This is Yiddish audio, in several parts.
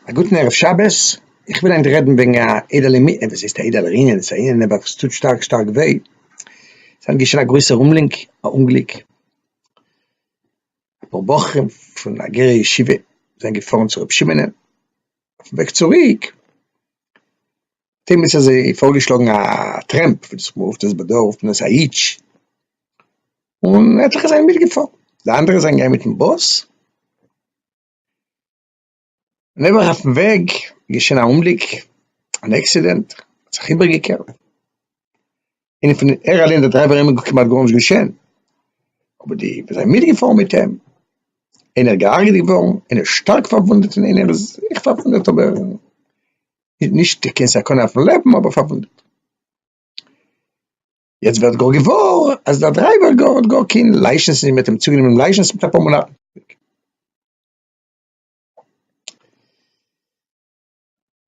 א גוטן ערב שבת, איך וויל היינט רעדן וועגן א אידעלע מ... וואס הייסט א אידעלער ענין, ס'איז א ענין אבער וואס טוט שטארק שטארק וויי, ס'האט געשען א גרויסער אומלינק, א אומגליק, אפאר בחורים פון א גערע ישיבה זענען געפארן צו ר' שמעונ'ען, אויפן וועג צוריק, תימוס האט זיי פארגעשלאגן א טרעמפ וואס דאס מאל רופט עס בדוו פנס א היטש, און עטליכע זענען מיטגעפארן, די אנדערע זענען געגאנגען מיטן באס, נעבעך אויפן וועג איז געשען א אומגליק, אן עקסידענט, ער האט זיך איבערגעקערט, און פון ער אליין דער דרייווער איז אים כמעט גארנישט געשען, אבער די וואס זענען מיטגעפארן מיט אים, איינער איז געהארגעט געווארן, איינער שטארק פארוואונדעט און איינער איז זיך פארוואונדעט אבער. נישט קיין סכנה אויפן לעבן אבער פארוואונדעט. יעצט ווערט גאר געוואר אז דער דרייווער גאר האט גאר קיין לייסענס נישט, מ'האט אים צוגענומען לייסענס מיט אפאר מאנאטן צוריק.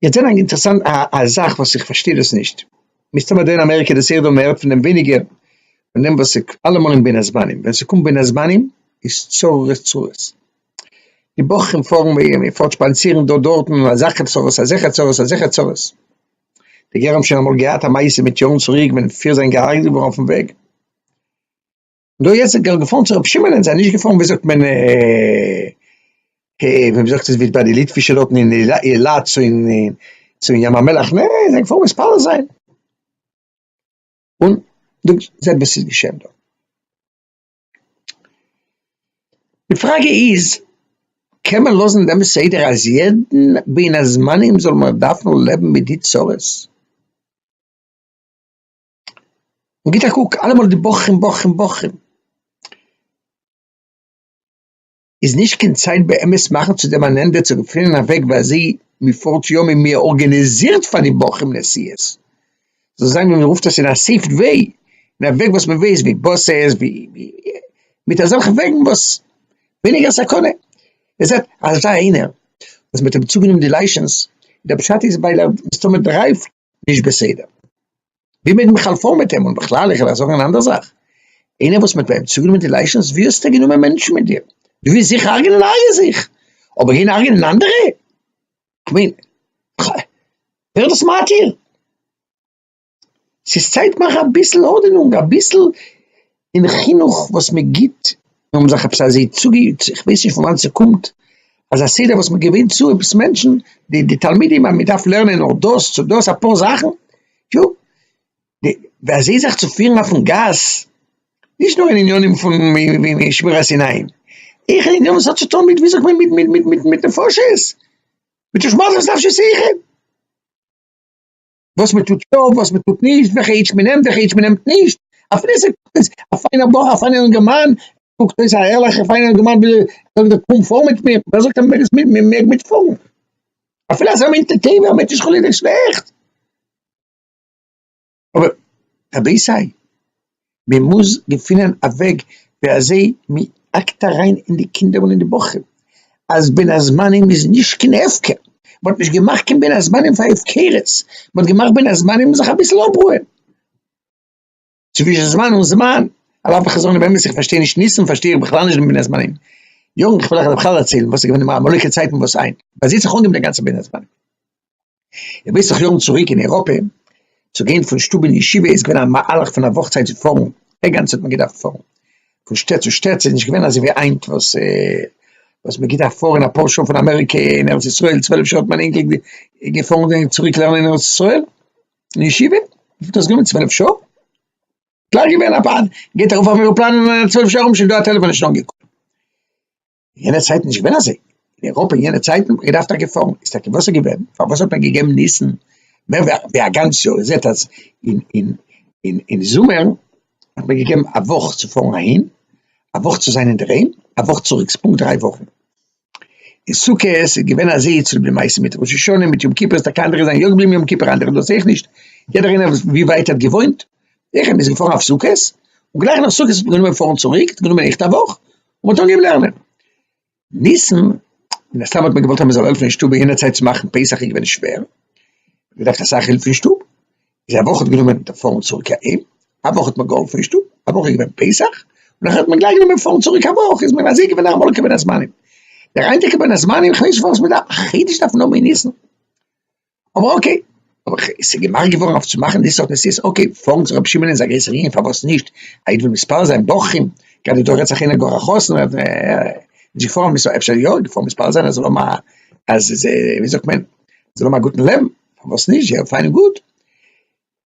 יעצט זעהן א אינטערעסאנט א זאך וואס איך פארשטיי דאס נישט, מסתמא דא אין אמעריקע איז עס זייער דא מען הערט פון דעם ווייניגער פון דעם וואס אלעמאל אין בין הזמנים ווען ס'קומט בין הזמנים איז צרות צרות. די בחורים פארן וועגן אים און פארט שפאנצירן דא דארטן און אזעלכע צרות אזעלכע צרות אזעלכע צרות. די גר א האבן שוין אמאל געהאט א מעשה מיט יארן צוריק ווען פיר זענען געהארגעט געווארן אויפן וועג. דא יעצט זענען גאר געפארן צו רבי שמעון און זיי נישט געפארן ווי זאגט מען ווי מען זאגט עס ווי ביי די ליטווישע דארטן אין אילת צו אין צו אין ים המלח נע זיי זענען געפארן מתפלל זיין. און זעט וואס איז געשען דא. די פראגע איז, קען מען לאזן דעם סדר אז יעדן בין הזמנים זאל מען דארפן לעבן מיט די צרות? און גיט א קוק, אלעמאל די בוכרים בוכרים בוכרים. איז נישט קיין צייט באמת מאכן צו דעם אן ענדע צו געפינען א וועג ווי אזוי מען פארט יום און מען ארגאניזירט פאר די בחורים נסיעות זאל זיין ווי מען רופט עס אין א סעיפד וועי אין א וועג וואס מען ווייסט ווי באסעס ווי מיט אזעלכע וועגן וואס ווייניגער סכנה מען זעט אזא איינער וואס מען האט אים צוגענומען די לייסענס דער פשט איז ווייל ער מסתמא דרייווט. נישט בסדר. ווי מעג מען חלפאן מיט אים און בכלל איך וועל זאגן אן אנדער זאך, איינער וואס מ'האט ביי אים צוגענומען די לייסענס ווי האסטו גענומען מענטשן מיט דיר? דו ווילסט זיך הרג'נען הרג'ע זיך, אבער גיין הרג'נען אנדערע? כ'מיין ח. ווער האט דאס מתיר? ס'איז צייט מאך אביסל ארדענונג, אביסל און חינוך וואס מען גיבט, און האבן זיך עפעס אזוי צוגעיאגט, איך ווייס נישט פון וואנעט ס'קומט, אז א סדר וואס מען געווען צו עפעס מענטשן, די די תלמידים אז מען דארף לערנען נאר דאס צו דאס אפאר זאכן, טא, די ווי אזוי זיך צו פירן אויפן גאס, נישט נאר אין עניינים פון שמירת עיניים, אויך אין עניינים וואס האט צו טון מיט ווי זאגט מען מיט מיט מיט נפשות, מיט תשמור על נפשותיכם. וואס מען טוט יא וואס מען טוט נישט וועלכע אידש מען נעמט וועלכע אידש מען נעמט נישט אפילו עס איז א פיינער בחור א פיינער אינגערמאן קוקט אויס א ערליכע פיינער אינגערמאן וויל זאגט ער קום פאר מיט מיר ווער זאגט אז מען מעג מען מעג מיט פארן אפילו אז ער מיינט די טעיווע ער מיינט נישט חלילה שלעכט אבער רבי'ס זיי מען מוז געפינען א וועג ווי אזוי מען האקט אריין אין די קינדער און אין די בחורים אז בין הזמנים איז נישט קיין הפקר, מען האט נישט געמאכט קיין בין הזמנים פאר הפקרות, מען האט געמאכט בין הזמנים זיך אביסל אפרוען, צווישן זמן און זמן, על אף איך זאג נישט באמת איך פארשטיי נישט ניסן פארשטיי איך בכלל נישט דעם בין הזמנים, יארן, איך וויל אייך בכלל דערציילן וואס איז געווען די מאמעליכע צייטן וואס איין, מ'האט זיך אנגעהויבן די גאנצע בין הזמנים. במשך יארן צוריק אין אייראפע, צו גיין פון שטוב אין ישיבה איז געווען א מהלך פון א וואך צייט צו פארן, א גאנצע האט מען געדארפט פארן פון שטעט צו שטעט, ס'איז נישט געווען אזוי ווי היינט וואס וואס מען געדארפט פארן אפאר שעה פון אמעריקע אין ארץ ישראל, צוועלף שעה האט מיין אינגל געפארן און צוריק לערנען אין ארץ ישראל אין ישיבה, וויפיל האט דאס גענומען צוועלף שעה? קלאר געווען א פאן, גייט ארויף אויפן עראפלאן צוועלף שעה ארום שוין דא א טעלעפאן נישט אנגעקומען. אין יענע צייטן נישט געווען אזוי, אין אייראפע אין יענע צייטן האט מען געדארפט טאקע פארן, איז טאקע וואסער געווען, פארוואס האט מען געגעבן ניסן מער ווי א גאנץ יאר, איר זעט אז אין אין אין אין זומער האט מען געגעבן א וואך צו פארן אהין, א וואך צו זיין אינדערהיים, א וואך צוריק, ס'איז פונקט דריי וואכן, אין סוכות איז געווען אזוי צוליב די מעשה מיט ראש השנה מיט יום כיפור, איז טאקע אנדערע זענען יא געבליבן יום כיפור אנדערע דאס אויך נישט, יעדער איינער ווי ווייט ער האט געוואוינט, זיכער מען איז געפארן אויף סוכות, און גלייך נאך סוכות האט מען גענומען פארן צוריק, האט גענומען עכט א וואך, און מ'האט אנגעהויבן לערנען ניסן, מן הסתם האט מען געוואלט אז מ'זאל העלפן אין שטוב, יענע צייט צו מאכן פסח איז געווען שווער, מ'דארף אסאך הילף אין שטוב, איז א וואך האט גענומען דער פארן צוריק אהיים, א וואך האט מען געהאלפן אין שטוב, א וואך איז געווען פסח, און נאכדעם האט מען גלייך גענומען פארן צוריק, א וואך איז מען אזוי געווען א עמלק בין הזמנים, דער היינטיגע בין הזמנים, כ'ווייס נישט פארוואס מ'דארף א חידוש דארפן האבן אין ניסן. אבער אקעי, אבער ס'איז געמאכט געווארן אויף צו מאכן די סארט נסיעות, אקעי, פארן צו רבי שמעון איז א גרויסער ענין, פארוואס נישט, א איד וויל מספר זיין בחורים, גראדע דא רעדט זיך איינער גאר א חתן, ער איז נישט געפארן, אפשר יא, געפארן מספר זיין אז ער זאל האבן א, אז, ווי זאגט מען, זאל האבן א גוטן לעבן, פארוואס נישט, זייער פיין און גוט.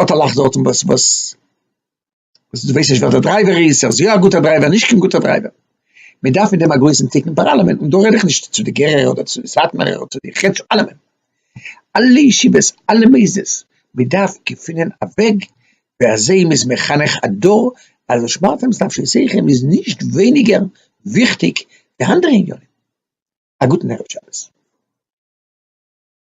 האט א לאך דארט אין באס באס וואס דו ווייסט נישט ווער די דרייווער איז ער איז יא א גוטער דרייווער נישט קיין גוטער דרייווער מען דארף מיט דעם א גרויסן תיקון פאר אלעמען און דא רעד איך נישט צו די גערער אדער צו די סאטמארער אדער צו די חת ס אלעמען אלע ישיבות אלע מוסדות מען דארף געפינען א וועג ווי אזוי מען איז מחנך א דור אז די שמארט פאנס דארף שוין סעיכם איז נישט ווייניגער וויכטיג ווי אנדערע עניינים א גוטן ערב שבת.